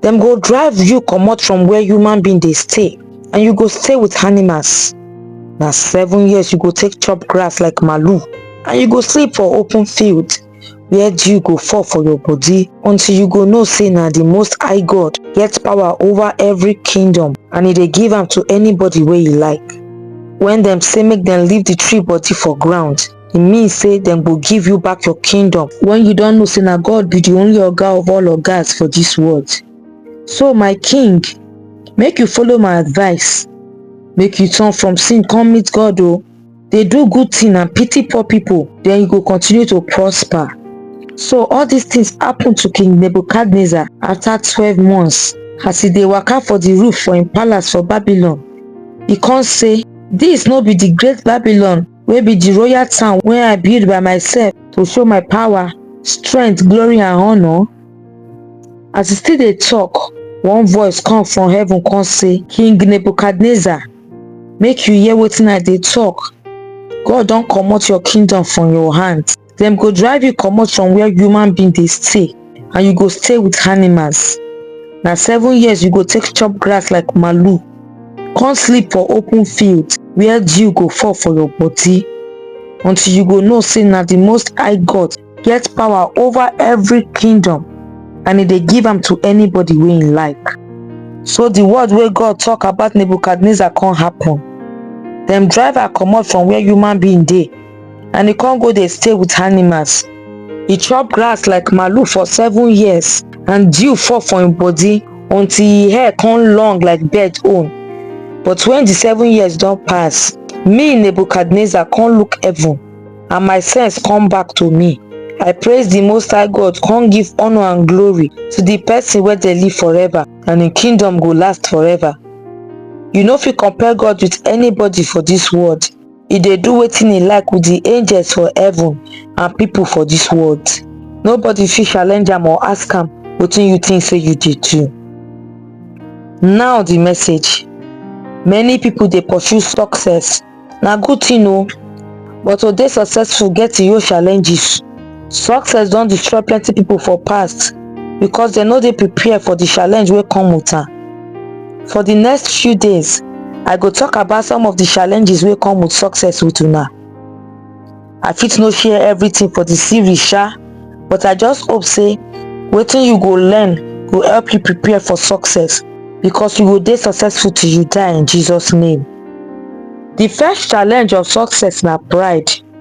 dem go drive you comot from where human being dey stay and you go stay with animals na seven years you go take chop grass like malu and you go sleep for open field where dew go fall for your body until you go know say na the most high god get power over every kingdom and e dey give am to anybody wey e like when dem say make dem leave the tree body for ground e mean say dem go give you back your kingdom when you don know say na god be the only oga of all ogas for this world so my king make you follow my advice make you turn from sin come meet god o dey do good thing and pity poor people then you go continue to prosper so all these things happen to king nebuchadnezzar after twelve months as e dey waka for the roof for im palace for babylon e come say this no be the great babylon wey be di royal town wey i build by myself to show my power strength glory and honour as e still dey tok one voice come from heaven come say king nebuchadnezzar make you hear wetin i dey tok god don comot your kingdom from your hand dem go drive you comot from where human being dey stay and you go stay with animals na seven years you go take chop grass like malu come sleep for open field where dew go fall for your body until you go know say na the most high god get power over every kingdom and e dey give am to anybody wey im like so the word wey god talk about nebuchadnezzar come happen dem drive her comot from where human being dey and e con go dey stay with animals e chop grass like malu for seven years and dew fall for him body until e hair con long like bird own but when the seven years don pass me nebuchadnezzar con look heaven and my sense come back to me i praise the most high god con give honor and glory to the person wey dey live forever and him kingdom go last forever you no fit compare god with anybody for this world e dey do wetin e like with di angels for heaven and pipo for dis world nobody fit challenge am or ask am wetin you think say you dey do now di message many pipo dey pursue success na good thing o but to dey successful get e own challenges Success don destroy plenty people for past because dem no dey prepare for the challenge wey come with am. For the next few days, I go talk about some of the challenges wey come with success with una. I fit no share everything for the series sha, but I just hope say wetin you go learn go help you prepare for success because you go dey successful till you die in Jesus name. The first challenge of success na pride.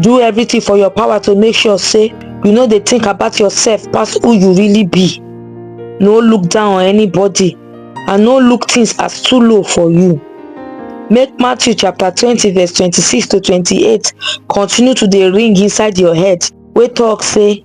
do everything for your power to make sure say you no dey think about yourself pass who you really be no look down on anybody and no look things as too low for you make matthew chapter twenty verse twenty-six to twenty-eight continue to dey ring inside your head wey talk say